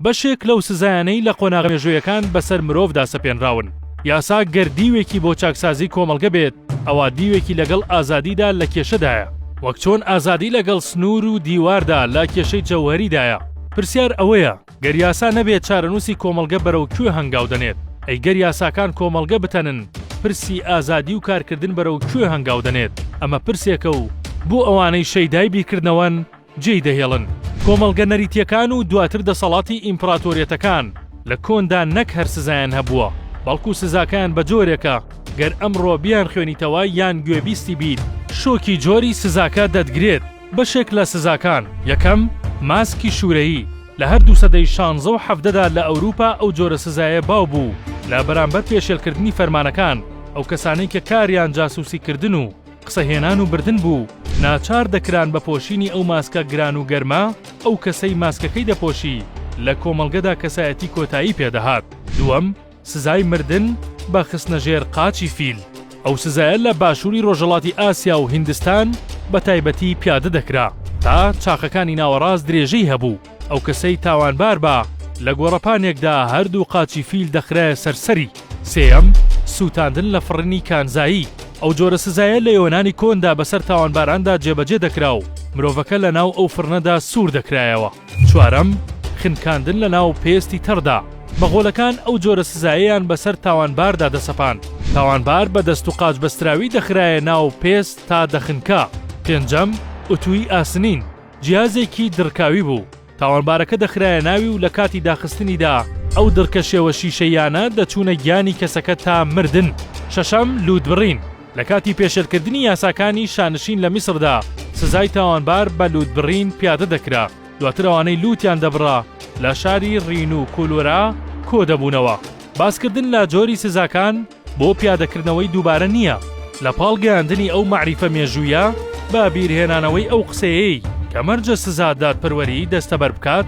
بەشێک لەو سزایانەی لە قۆناغە مێژوویەکان بەسەر مرۆڤدا سەپێنراون. یاسا گەر دیوێکی بۆ چاکسازی کۆمەڵگە بێت، ئەوا دیوێکی لەگەڵ ئازادیدا لە کێشەدایە، وەک چۆن ئازادی لەگەڵ سنوور و دیواردا لە کێشەی جەوهەریدایە. پرسیار ئەوەیە، گەر یاسا نەبێت چارەنووسی کۆمەڵگە بەرەو کوێ هەنگاو دەنێت؟ ئەی گەر یاساکان کۆمەڵگە بتەنن، پرسی ئازادی و کارکردن بەرەو کوێ هەنگاو دەنێت؟ ئەمە پرسێکە و بۆ ئەوانەی شەیدای بیرکردنەوەن، جێی دەهێڵن. کۆمەڵگە نەریتییەکان و دواتر دەسەڵاتی ئیمپراتۆریەتەکان لە کۆندا نەک هەر سزایان هەبووە، بەڵکو سزاکەیان بە جۆرێکە گەر ئەمڕۆ بیانخوێنیتەوە یان گوێبیستی بیت، شۆکی جۆری سزاکە دەتگرێت، بەشێک لە سزاکان، یەکەم، ماسکی شوورەیی، لە هەردوو سەدەی شانزە و حەڤدەدا لە ئەوروپا ئەو جۆرە سزایە باو بوو لە بەرامبەر پێشێلکردنی فەرمانەکان، ئەو کەسانەی کە کاریان جاسوسیکردن و. قسە هێنان و بردن بوو، ناچار دەکران بە پۆشینی ئەو ماسکە گران و گەرمە، ئەو کەسەی ماسکەکەی دەپۆشی لە کۆمەڵگەدا کەسایەتی کۆتایی پێ دەهات. دووەم، سزای مردن بە خستنە ژێر قاچی فیل، ئەو سزایە لە باشووری ڕۆژهەڵاتی ئاسیا و هیندستان بە تایبەتی پیادە دەکرا، تا چاخەکانی ناوەڕاست درێژەی هەبوو، ئەو کەسەی تاوانبار با لە گۆڕەپانێکدا هەردوو قاچی فیل دەخرایە سەر سەری. سێیەم، سووتاندن لە فڕنی کانزایی، ئەو جۆرە سزایە لە یۆنانی کۆندا بەسەر تاوانباراندا جێبەجێ دەکرا و مرۆڤەکە لە ناو ئەو فڕنەدا سوور دەکرایەوە. چوارەم، خنکاندن لە ناو پێستی تەڕدا، مەغۆلەکان ئەو جۆرە سزایەیان بەسەر تاوانباردا دەسەپاند، تاوانبار بە دەست و قاچ بەستراوی دەخرایە ناو پێست تا دەخنکا. پێنجەم، ئوتووی ئاسنین، جیهازێکی دڕکاوی بوو، تاوانبارەکە دەخرایە ناوی و لە کاتی داخستنیدا ئەو دڕکە شێوە شیشەییانە دەچوونە گیانی کەسەکە تا مردن. شەشەم، لووتبڕین، لە کاتی پێشێلکردنی یاساکانی شانشین لە میسردا سزای تاوانبار بە لووتبڕین پیادە دەکرا، دواتر ئەوانەی لووتیان دەبڕا لە شاری ڕین و کولورا کۆدەبوونەوە. باسکردن لە جۆری سزاکان. بۆ پیادەکردنەوەی دووبارە نییە، لە پاڵ گەیاندنی ئەو مەعریفە مێژوویە بە بیرهێنانەوەی ئەو قسەیەی کە مەرجە سزا دادپەروەریی دەستەبەر بکات،